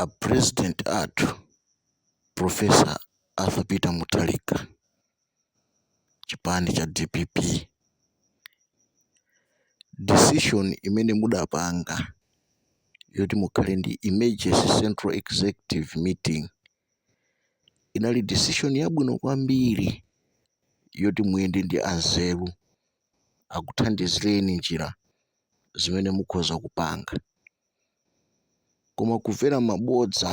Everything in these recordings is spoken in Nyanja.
A president athu professor Arthur Peter Mutharika chipani cha dpp decision imene mudapanga yoti mukhale ndi emergency central executive meeting inali decision yabwino kwambiri yoti muyende ndi anzeru akuthandizireni njira zimene mukhoza kupanga. Koma kumvera mabodza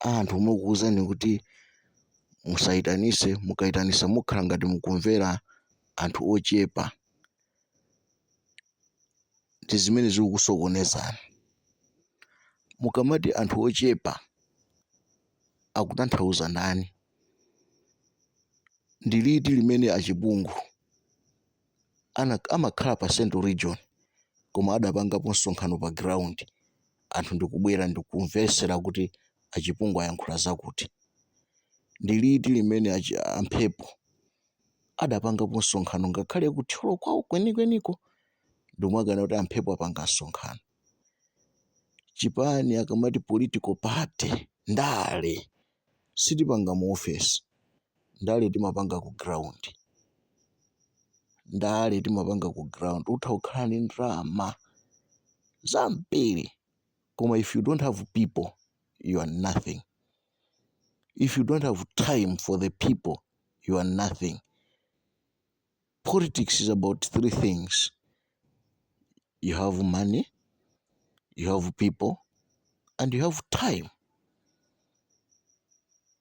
a anthu omwe akukuuzani kuti musaitanise, mukaitanisa mukhala ngati mukumvera anthu ochepa, ndi zimene zikukusokonezani. Mukamati anthu ochepa akutanthauza ndani? Ndi liti limene achipungu amakhala pa central region koma adapangapo msonkhano pa ground anthu ndikubwera ndikumvesera kuti achipungu ayankhula zakuti ndi liti limene amphepo adapangapo msonkhano ngakhale ku thyolo kwawo kwenikweniko nkumakamba kuti amphepo apanga msonkhano chipani akamati political party ndale sitipanga mu ofesi ndale timapanga ku ground ndale timapanga ku ground utha kukhala ndi ndalama zambiri koma if you don't have people you are nothing if you don't have time for the people you are nothing Politics is about three things, you have money, you have people and you have time.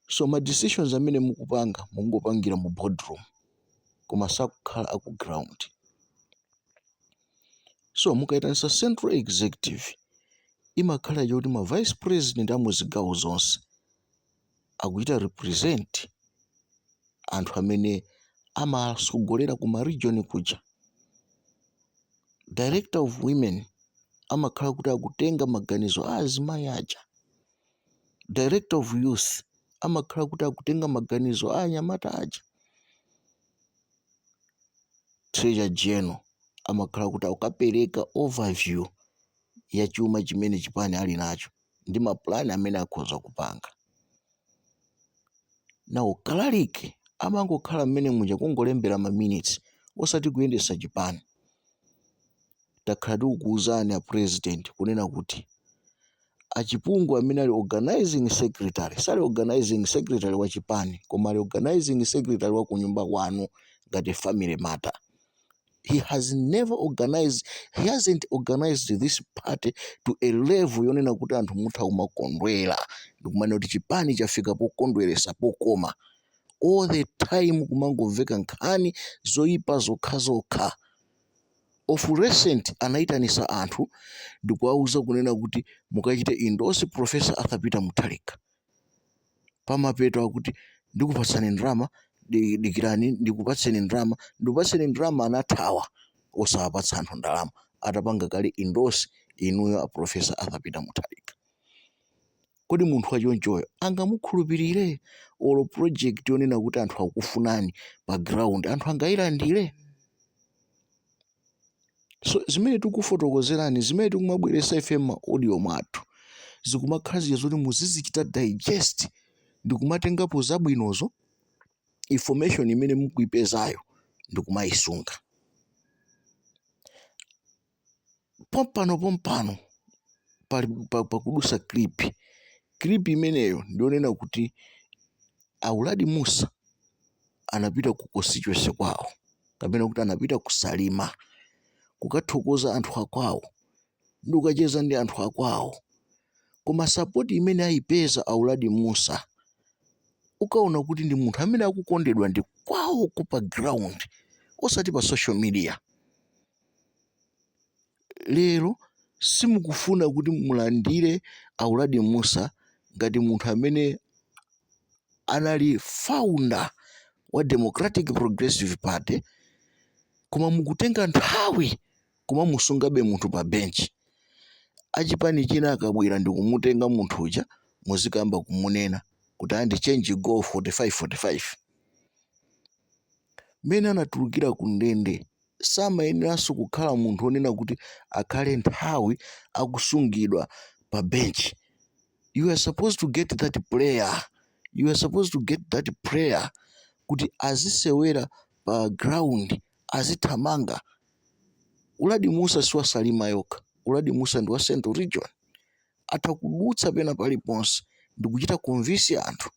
So ma decisions amene mukupanga mungopangira mu boardroom koma sakukhala aku ground. So mukayitanisa central executive imakhala yoti ma vice president amuzigawo zonse akuchita represent anthu amene amasogolera ku ma region kuja. Director of women amakhala kuti akutenga maganizo a azimayi aja. Director of youth amakhala kuti akutenga maganizo a anyamata aja. Treasurer General amakhala kuti akukapereka overview ya chuma chimene chipani ali nacho. ndi mapulani amene akhoza kupanga. Now kalalike amangokhala mmene muja kungolembera maminitsi osati kuyendesa chipani. Takhala tikukuwuzani a president kunena kuti achipungu amene ali organizing secretary sali organizing secretary wa chipani koma ali organizing secretary wa kunyumba kwanu ngati family matter. he has never organized he hasn't organized this party to a level yonena kuti anthu mutha kumakondwera ndikumanena kuti chipani chafika pokondweresa pokoma all the time kumangomveka nkhani zoyipa zokhazokha of recent anayitanisa anthu ndikuwauza kunena kuti mukachite endorse professor arthur peter mutharika pamapeto akuti ndikupatsani ndalama dikirani ndikupatseni ndalama ndikupatseni ndalama anathawa osawapatsa anthu ndalama atapanga kale endorse inuyo a professor arthur peter mutharika kodi munthu wachonchoyo angamukhulupirire olo project yonena kuti anthu akufunani pa ground anthu angailandire so zimene tikufotokozerani zimene tikumabweresa ife ma audio mwathu zikumakhala zija zoti muzizichita digest ndikumatengapo zabwinozo information imene mukuipezayo ndikumayisunga pompano pompano pakudusa clip clip imeneyo ndi yonena kuti a uladi mussa anapita ku constituency kwawo kapena kuti anapita ku Salima kukathokoza anthu akwawo ndi kukacheza ndi anthu akwawo koma support imene ayipeza a Uladi Mussa ukaona kuti ndi munthu amene akukondedwa ndi kwawo ko pa ground osati pa social media Lero simukufuna kuti mulandire a Uladi Mussa ngati munthu amene anali founder wa Democratic Progressive Party koma mukutenga nthawi kumamusungabe munthu pa bench. A chipani china akabwera ndikumutenga munthu uja muzikayamba kumunena kuti aa ndi change goal 45, 45. Mmene anatulukira ku ndende samayeneranso kukhala munthu onena kuti akhale nthawi akusungidwa pa bench. You were supposed to get that player, you were supposed to get that player kuti azisewera pa ground, azithamanga. Uladi Mussa si wa Salima yokha, Uladi Mussa ndi wa Central Region. Atha kudutsa pena paliponse ndikuchita convince anthu,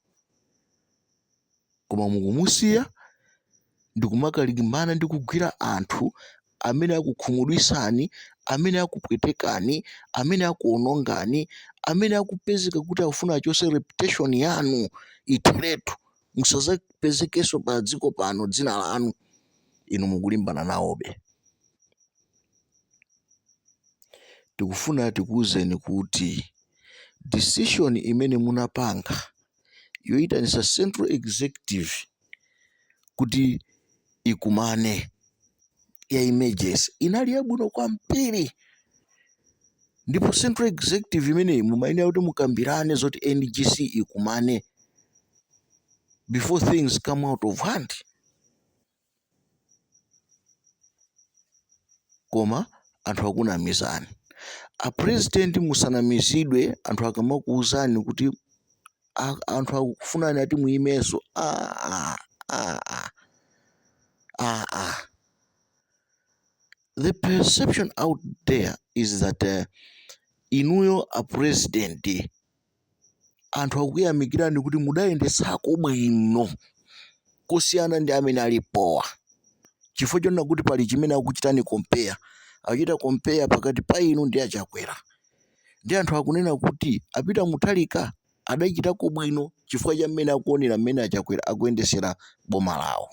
koma mukumusiya. ndikumakalimbana ndi kugwira anthu amene akukhumudwisani, amene akupwetekani, amene akuonongani, amene akupezeka kuti akufuna achose reputation yanu itheretu musazapezekenso pa dziko pano dzina lanu inu mukulimbana nawobe. Tikufuna tikuuzeni kuti decision imene munapanga yoitanisa central executive kuti ikumane ya emergency inali yabwino kwambiri ndipo central executive imeneyi mumayenera kuti mukambirane zoti ngc ikumane before things come out of hand koma anthu akunamizani. A president musanamizidwe anthu akamakuuzani kuti a- anthu akukufunani ati muyimenso aa aa aa the perception out there is that uh, inuyo a president anthu akukuyamikirani kuti mudayendetsako bwino kusiyana ndi amene alipowa chifukwa chonena kuti pali chimene akuchitani compare akuchita compare pakati pa inu ndi a chakwera ndi anthu akunena kuti a peter mutharika adachitako bwino chifukwa cha mmene akuonera mmene a chakwera akuyendetsera boma lawo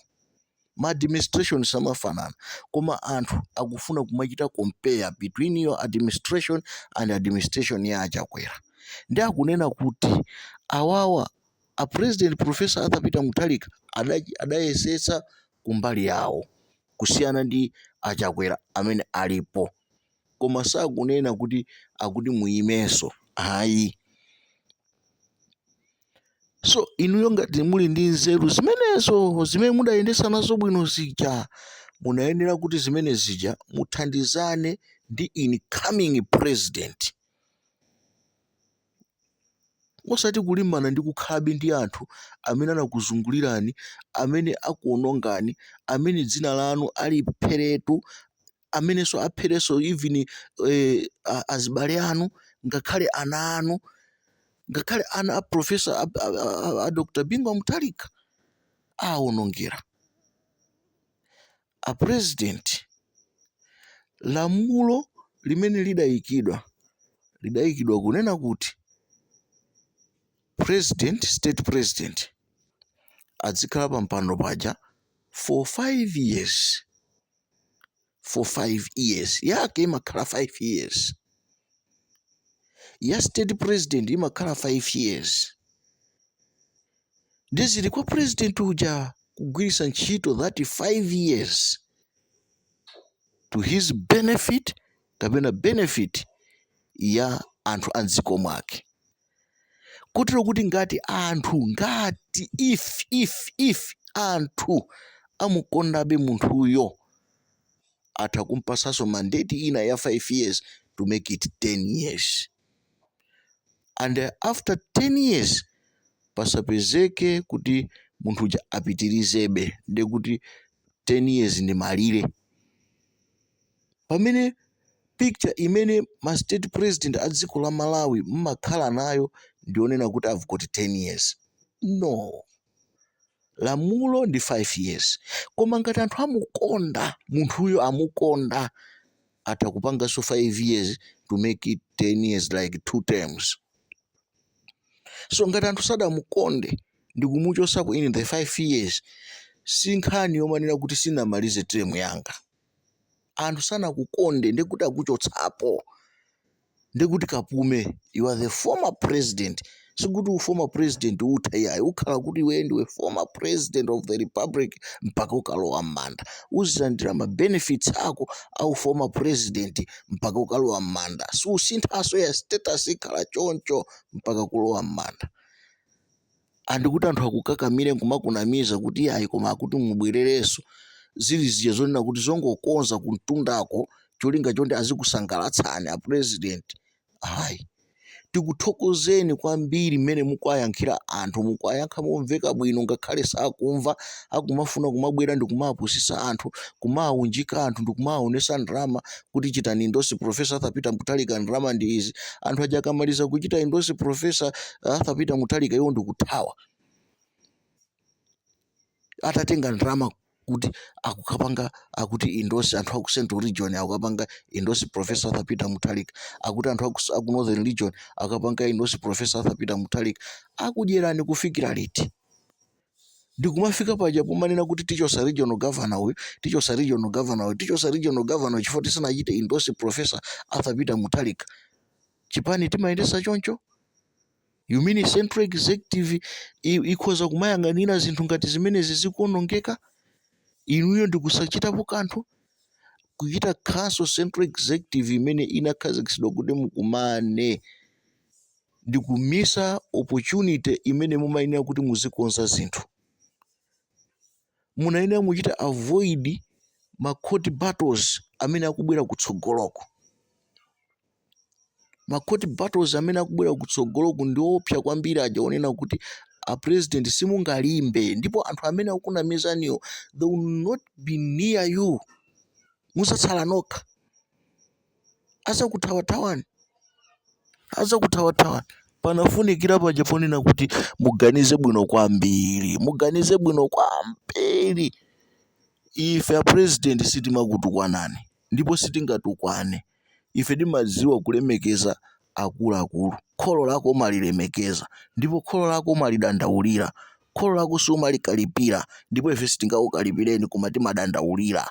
ma administration samafanana koma anthu akufuna kumachita compare between your administration and administration ya a chakwera ndi akunena kuti awawa a president professor arthur peter mutharika adachi- adayesetsa kumbali yawo kusiyana ndi a chakwera amene alipo koma sakunena kuti akuti muyimenso ayi. So inuyo ngati muli ndi nzeru zimenezo zimene mudayendetsa nazo bwino zija munayenera kuti zimene zija muthandizane ndi incoming president osati kulimbana ndi kukhalabe ndi anthu amene anakuzungulirani amene akuonongani amene dzina lanu alipheretu amenenso apherenso even eh, a- azibale anu ngakhale ana anu ngakhale ana a profesa a, a, a, a dr bingu wa mutharika awawonongera a president lamulo limene lidayikidwa lidayikidwa kunena kuti president state president adzikhala pa mpando paja for five years for five years yake imakhala five years ya state president imakhala five years ndi zili kwa president uja kugwiritsa ntchito that five years to his benefit kapena benefit ya anthu a mdziko mwake kotero kuti ngati anthu ngati if if if anthu amukondabe munthuyo atha kumpasaso mandate ina ya 5 years to make it 10 years and after 10 years pasapezeke kuti munthu uja apitirizebe ndekuti 10 years ndi malire pamene Picture imene ma state president a dziko la Malawi mmakhala nayo ndi yonena kuti I've got 10 years. No. Lamulo ndi 5 years. Koma ngati anthu amukonda munthuyo, amukonda, atha kupangaso 5 years to make it 10 years like two terms. So ngati anthu sadamukonde ndi kumuchosapo in the 5 years, si nkhani yomanena kuti sinamalize term yanga. anthu sanakukonde ndekuti akuchotsapo ndekuti kapume you are the former president sikuti u former president utha iyayi ukhala kuti iwe ndiwe former president of the republic mpaka ukalowa m'manda uzilandira ma benefits ako au former president mpaka ukalowa m'manda siusinthaso ya status ikhala choncho mpaka kulowa m'manda and kuti anthu akukakamire nkumakunamiza kuti iyayi koma akuti mubwerereso zili zija zonena kuti zongokonza kumtundako cholinga choti azikusangalatsani a president ayi tikuthokozeni kwambiri mmene mukuwayankhira anthu mukuwayankha momveka bwino ngakhale sakumva akumafuna kumabwera ndi kumawapusisa anthu kumawunjika anthu ndi kumawaonesa ndalama kuti chitani endorse professor Arthur Peter Mutharika ndalama ndi izi anthu aja akamaliza kuchita endorse professor Arthur Peter Mutharika iwo ndikuthawa atatenga ndalama kuti akukapanga akuti endorse anthu aku central region akukapanga endorse professor Arthur Peter Mutharika akuti anthu aku, aku northern region akukapanga endorse professor Arthur Peter Mutharika akudyerani kufikira liti ndikumafika paja pomanena kuti tichosa regional governor uyu tichosa regional governor uyu tichosa regional governor uyu chifukwa choti sanachite endorse professor arthur peter mutharika chipani timayendesa choncho you mean central executive i- ikhoza kumayang'anira zinthu ngati zimenezi zikuonongeka inuyo ndikusachitapo kanthu kuchita cancel central executive imene inakhazikitsidwa kuti mukumane ndi kumissa opportunity imene mumayenera kuti muzikonza zinthu munayenera kuchita avoid ma court battles amene akubwera kutsogoloku ma court battles amene akubwera kutsogoloku ndi oopsa kwambiri aja onena kuti a president simungalimbe ndipo anthu amene akunamizaniwo they will not be near you muzatsala nokha azakuthawathawani azakuthawathawani panafunikira paja ponena kuti muganize bwino kwambiri muganize bwino kwambiri ife a president sitimakutukwanani ndipo sitingatukwane ife timadziwa kulemekeza akuluakulu kholo lako umalilemekeza ndipo kholo lako umalidandaulira kholo lako siumalikalipira ndipo ife sitingakukalipireni koma timadandaulira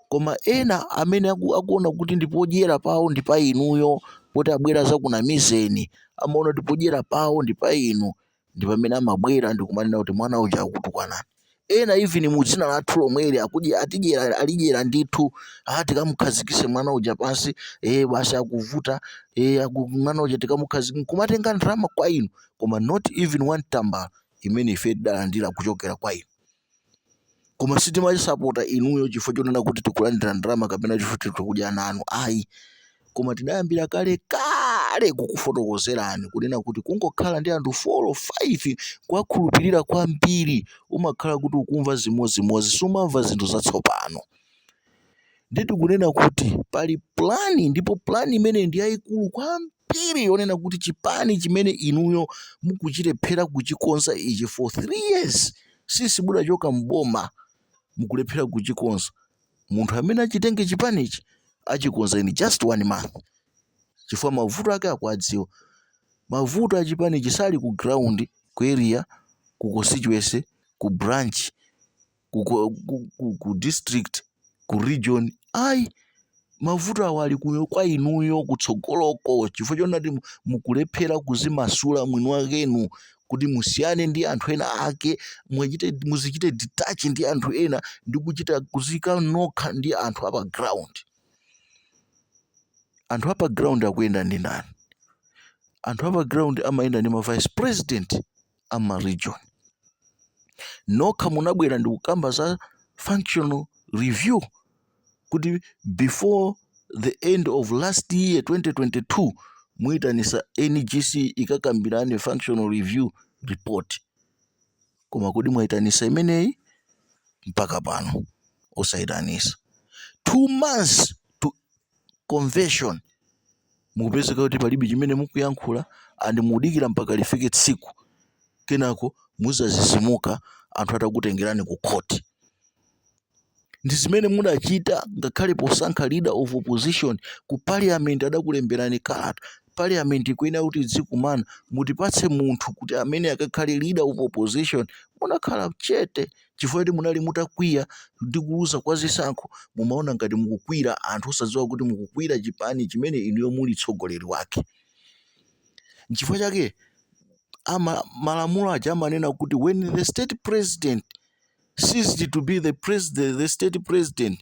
Koma ena amene aku, akuona kuti ndi podyera pawo ndi pa inuyo, poti abwera azakunamizeni, amaona kuti podyera pawo ndi pa inu, ndi pamene amabwera ndikumanena kuti mwana uja akutukwanani. Ena even mu dzina lathu lomweli akudye, atidyera, alidyera ndithu, ah tikamukhazikise mwana uja pansi, eh basi akuvuta, eh aku, mwana uja tikamukhaziki, nkumatenga ndalama kwa inu, koma not even one tambala imene ife tidalandira kuchokera kwa inu. koma sitimachisapota inuyo chifukwa chonena kuti tikulandira ndalama kapena chifukwa choti tikudya nanu ayi koma tidayambira kale kale kukufotokozerani kunena kuti kungokhala ndi anthu 4 or 5 kuwakhulupirira kwambiri umakhala kuti ukumva zimodzimodzi sumamva zinthu zatsopano ndiye tikunena kuti pali pulani ndipo pulani imeneyi ndi yayikulu kwambiri yonena kuti chipani chimene inuyo mukuchilephera kuchikonza ichi for three years since mudachoka mboma mukulephera kuchikonza munthu amene achitenge chipanichi achikonza in just one month chifukwa mavuto ake akuwadziwa mavuto a chipanichi sali ku ground ku area ku constituency ku branch ku, ku, ku, ku, ku district ku region ayi mavuto awo ali kuyo kwa inuyo kutsogoloko chifukwa choona kuti mu- mukulephera kuzimasula mwini wakenu kuti musiyane ndi anthu ena ake muchite muzichite detach ndi anthu ena ndi kuchita kuzika nokha ndi anthu apa ground anthu apa ground akuyenda ndi ndani anthu apa ground amayenda ndi ma vice president a ma region nokha munabwera ndikukamba za functional review kuti before the end of last year 2022 muyitanisa ngc ikakambirane functional review report koma kodi mwayitanisa imeneyi mpaka pano osayitanisa two months to convention mukupezeka kuti palibe chimene mukuyankhula and mudikira mpaka lifike tsiku kenako muzazizimuka anthu atakutengerani ku court ndi zimene mudachita ngakhale posankha leader of opposition ku parliament adakulemberani kalata parliament ikuyenera kuti idzikumana mutipatse munthu kuti amene akakhale leader of opposition munakhala chete chifukwa kuti munali mutakwiya ndi kuluza kwa zisankho mumaona ngati mukukwira anthu osadziwa kuti mukukwira chipani chimene inuyo muli tsogoleri wake nchifukwa chake ama, malamulo aja amanena kuti when the state president ceased to be the state president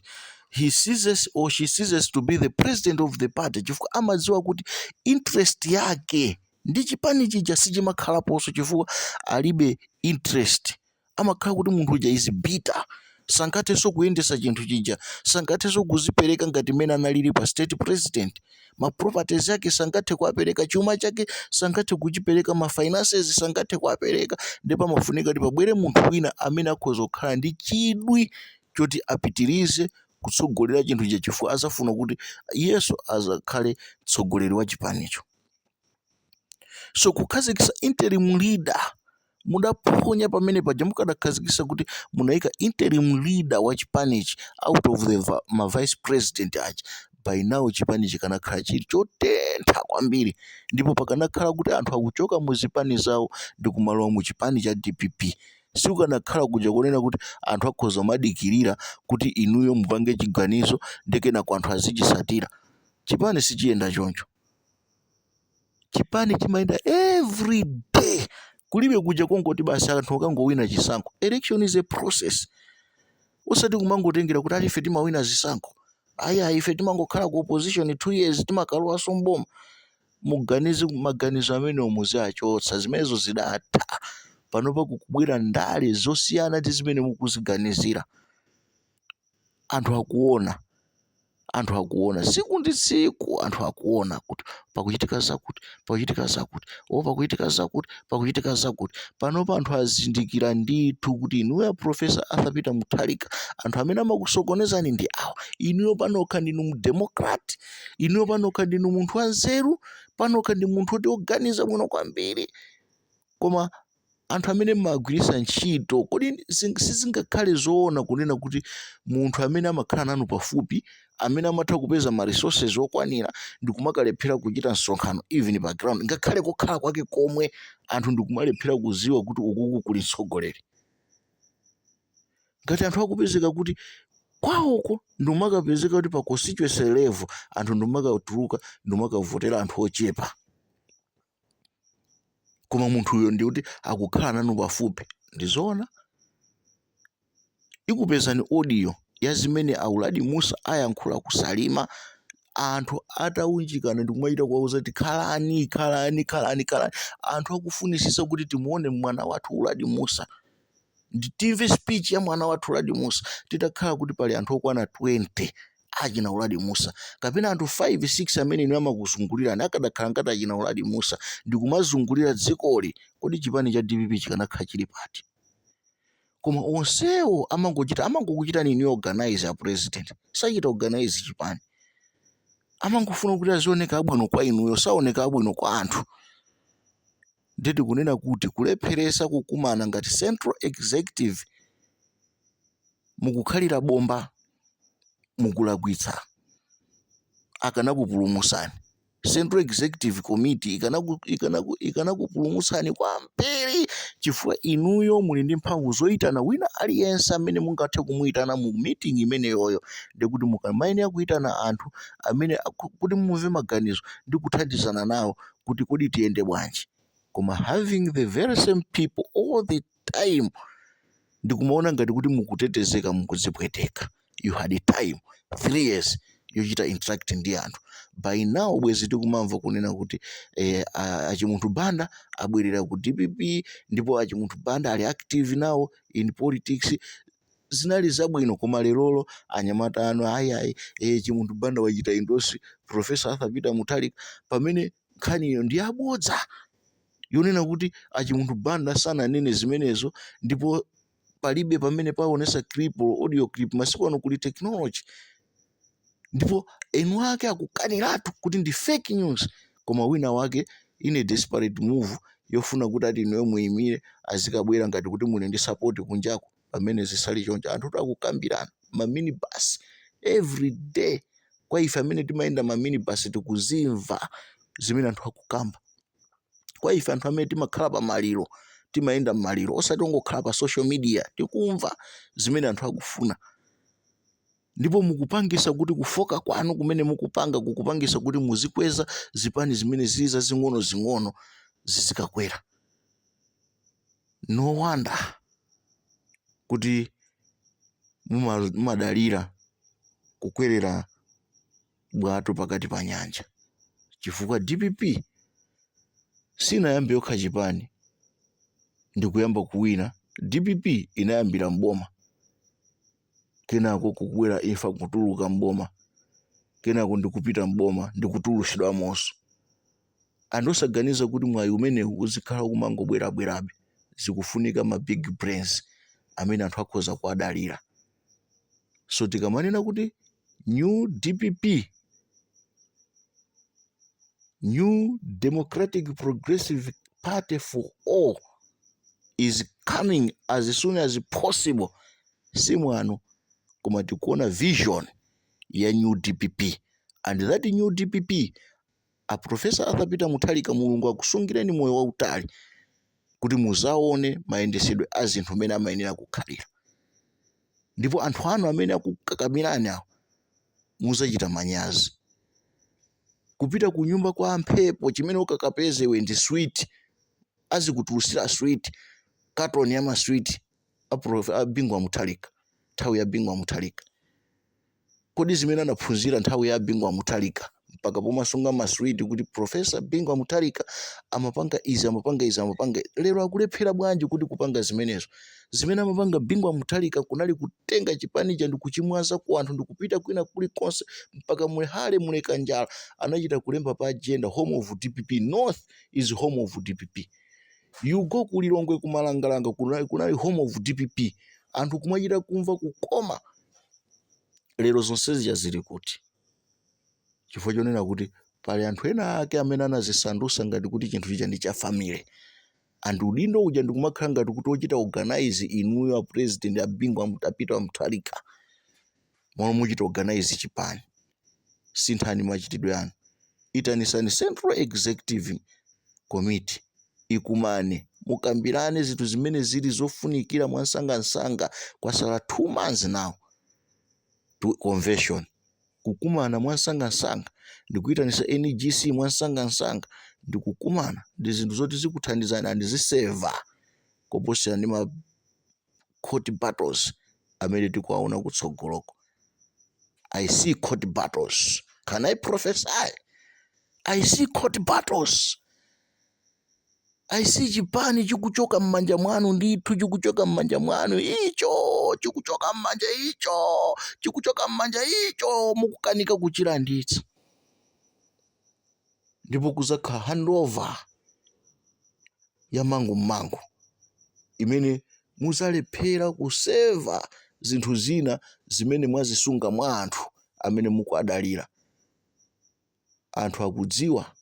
he ceases or she ceases to be the president of the party chifukwa amadziwa kuti interest yake ndi chipani chija sichimakhalaponso chifukwa alibe interest amakhala kuti munthu uja is bitter sangathenso kuyendesa chinthu chija sangathenso kuzipereka ngati mmene analili pa state president ma properties yake sangathe kuwapereka chuma chake sangathe kuchipereka ma finances sangathe kuwapereka ndipo amafunika kuti pabwere munthu wina amene akhoza kukhala ndi chidwi choti apitirize kutsogolera chinthu chija chifukwa azafuna kuti iyenso azakhale mtsogoleri wa chipanicho so kukhazikisa interim leader mudaphonya pamene paja mukadakhazikisa kuti munaika interim leader wa chipanichi out of the ma vice president aja by now chipani chikanakhala chili chotentha kwambiri ndipo pakanakhala kuti anthu akuchoka mu zipani zawo ndi kumalowa mu chipani cha dpp sikukanakhala kuja kunena kuti anthu akhoza madikirira kuti inuyo mupange chiganizo nde kenako anthu azichisatira chipani sichiyenda choncho chipani chimayenda every day kulibe kuja kongoti basi anthu akangowina chisankho election is a process usati kumangotengera kuti ali ife timawina zisankho aya ife timangokhala ku opposition 2 years timakalowaso mboma muganize maganizo amenewo muziachotsa zimenezo zidatha panopa kukubwera ndale zosiyana ndi zimene mukuziganizira anthu akuona, anthu akuona tsiku ndi tsiku, anthu akuona kuti pakuchitika zakuti, pakuchitika zakuti, o pakuchitika zakuti, pakuchitika zakuti. Panopa anthu azindikira ndithu kuti inuyo a Professor Arthur Peter Mutharika, anthu amene amakusokonezani ndi awa. Inuyo panokha ndinu mdemokrat, inuyo panokha ndinu munthu wanzeru, panokha ndi munthu woti woganiza bwino kwambiri, koma anthu amene mmagwiritsa ntchito. Kodi sizingakhale zoona kunena kuti munthu amene amakhala nanu pafupi, amene amatha kupeza ma resources okwanira ndikumakalephera kuchita msonkhano even pa ground, ngakhale kokhala kwake komwe anthu ndikumalephera kuziwa kuti ukuku kuli mtsogoleri. Ngati anthu akupezeka kuti kwawoko ndikumakapezeka kuti pa constituency level anthu ndikumakatuluka ndikumakavotera anthu ochepa. koma munthuyo ndi kuti akukhala nanu pafupi ndi zoona ikupezani audio ya zimene a uladi musa ayankhula ku salima anthu ataunjikana ndikumachita kuwauza kuti khalani khalani khalani khalani anthu akufunisisa kuti timuone mwana wathu uladi musa timve speech ya mwana wathu Uladi Mussa titakhala kuti pali anthu okwana 20 achina Uladi Mussa kapena anthu 5 6 amene inu amakuzungulirani akadakhala ngati achina Uladi Mussa ndikumazungulira dzikoli kodi chipani cha DPP chikanakhala chili pati koma onsewo amangokuchitani inu organize a president sachita organize chipani amangofuna kuti azioneka abwino kwa inuyo saoneka abwino kwa anthu ndiye tikunena kuti kulepheresa kukumana ngati central executive mukukhalira bomba mukulakwitsa akanakupulumusani central executive committee ikanaku- ikanaku- ikanakupulumusani kwambiri chifukwa inuyo muli ndi mphamvu zoyitana wina aliyense amene mungathe kumuyitana mu meeting imeneyoyo ndikuti mukamayenera kuyitana anthu amene akhu- kuti mumve maganizo ndi kuthandizana nawo kuti kodi tiyende bwanji koma having the very same people all the time ndikumaona ngati kuti mukutetezeka mukuzipweteka you had time three years yochita interact ndi anthu by now bwezi tikumamva kunena kuti eh, a- achimunthu banda abwerera ku dpp ndipo achimunthu banda ali active now in politics zinali zabwino koma lerolo anyamata anu ayi ayi ee Chimunthu Banda wachita endorse Professor Arthur Peter Mutharika pamene nkhaniyo ndiyabodza yonena kuti a Chimunthu Banda sananene zimenezo ndipo palibe pamene paonesa clip or audio clip masiku ano kuli technology ndipo eni ake akukaniratu kuti ndi fake news koma wina wake in a desperate move yofuna kuti ati inuyo muimire azikabwera ngati kuti muli ndi support kunjako pamene zisali choncho anthutu akukambirana ma minibus every day kwa ife amene timayenda ma minibus tikuzimva zimene anthu akukamba kwa ife anthu amene timakhala pa maliro timayenda mmaliro osati ongokhala pa social media tikumva zimene anthu akufuna ndipo mukupangisa kuti kufoka kwanu kumene mukupanga kukupangisa kuti muzikweza zipani zimene zili zazing'ono zing'ono zizikakwera no wonder kuti mumadalira kukwerera bwato pakati pa nyanja chifukwa dpp sinayambe yokha chipani ndikuyamba kuwina dpp inayambira mboma kenako kukubwera imfa kutuluka m'boma kenako ndikupita m'boma ndikutulusidwamonso anthu osaganiza kuti mwayi umenewu uzikhala kumangobwerabwerabe zikufunika ma big brains amene anthu akhoza kuwadalira so tikamanena kuti new dpp new democratic progressive party for all is coming as soon as possible si mwano koma tikuona vision ya new dpp and that new dpp A Prof. Arthur Peter Mutharika Mulungu akusungireni moyo wautali kuti muzaone mayendesedwe a zinthu mene amayenera kukhalira ndipo anthu anu amene akukakamirani awo muzachita manyazi. Kupita kunyumba kwa amphepo chimene ukakapeze iwe ndi sweet azikutulusira sweet carton ya masweet. a bingu wa mutharika nthawi ya bingu wa mutharika kodi zimene anaphunzira nthawi ya bingu wa mutharika mpaka pomasunga maswiti kuti profesa bingu wa mutharika amapanga izi amapanga izi amapanga izi. lero akulephera bwanji kuti kupanga zimenezo zimene amapanga bingu wa mutharika kunali kutenga chipanicha ndi kuchimwaza ku anthu ndi kupita kwina kulikonse mpaka mulehale muleka njala anachita kulemba pa agenda home of dpp north is home of dpp you go ku lilongwe ku malangalanga kunali home of dpp anthu kumachita kumva kukoma lero zonse zija zili kuti chifukwa chonena kuti pali anthu ena ake amene anazisandusa ngati kuti chinthu chija ndi cha family and udindo uja ndikumakhala ngati kuti ochita organize inuyo a president a bingu a Mut- a peter mutharika momwe muchita organize chipani sinthani machitidwe anu, itanisani Central Executive Committee ikumane mukambirane zinthu zimene zili zofunikira mwansangansanga kwasala 2 months now to convention. Kukumana mwansangansanga ndikuitanisa NGC mwansangansanga ndikukumana ndi zinthu zoti zikuthandizani and ziseva koposera ndi ma court battles amene tikuwaona kutsogoloko i see court battles can i prophesy i see court battles i see chipani chikuchoka m'manja mwanu ndithu chikuchoka m'manja mwanu icho chikuchoka m'manja icho chikuchoka m'manja icho mukukanika kuchilanditsa ndipo kuzakhala handover ya mangu mangu imene muzalephera kuseva zinthu zina zimene mwazisunga mwa anthu amene mukuadalira anthu akudziwa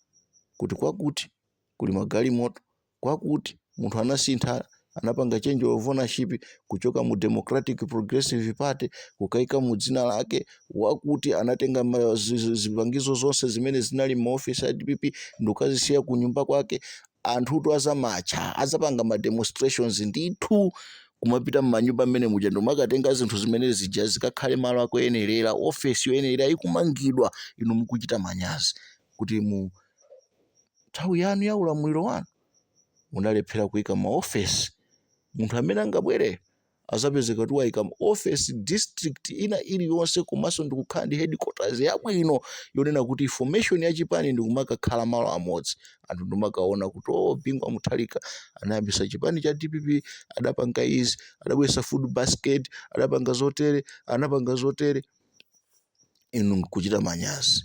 kuti kwakuti kuli magalimoto kwakuti munthu anasintha anapanga change of ownership kuchoka mu Democratic Progressive Party kukaika mu dzina lake wakuti anatenga ma- zi- zi- zipangizo zonse zimene zinali mma office a DPP ndikazisiya ku nyumba kwake anthutu azamatcha azapanga ma demonstrations ndithu kumapita mmanyumba amene muja ndimakatenga zinthu zimene zija zikakhale malo akuyenerera ofesi yoyenerera ikumangidwa inu mukuchita manyazi kuti nthawi yanu ya ulamuliro wanu munalephera kuika ma office munthu amene angabwereyo azapezeka kuti waika ma office district ina iliyonse komanso ndikukhala ndi headquarters yabwino yonena kuti information ya chipani ndikumakakhala malo amodzi anthu ndimakaona kuti oh bingu wa Mutharika anayambisa chipani cha dpp adapanga izi adabwesa food basket adapanga zotere anapanga zotere inu nkuchita manyazi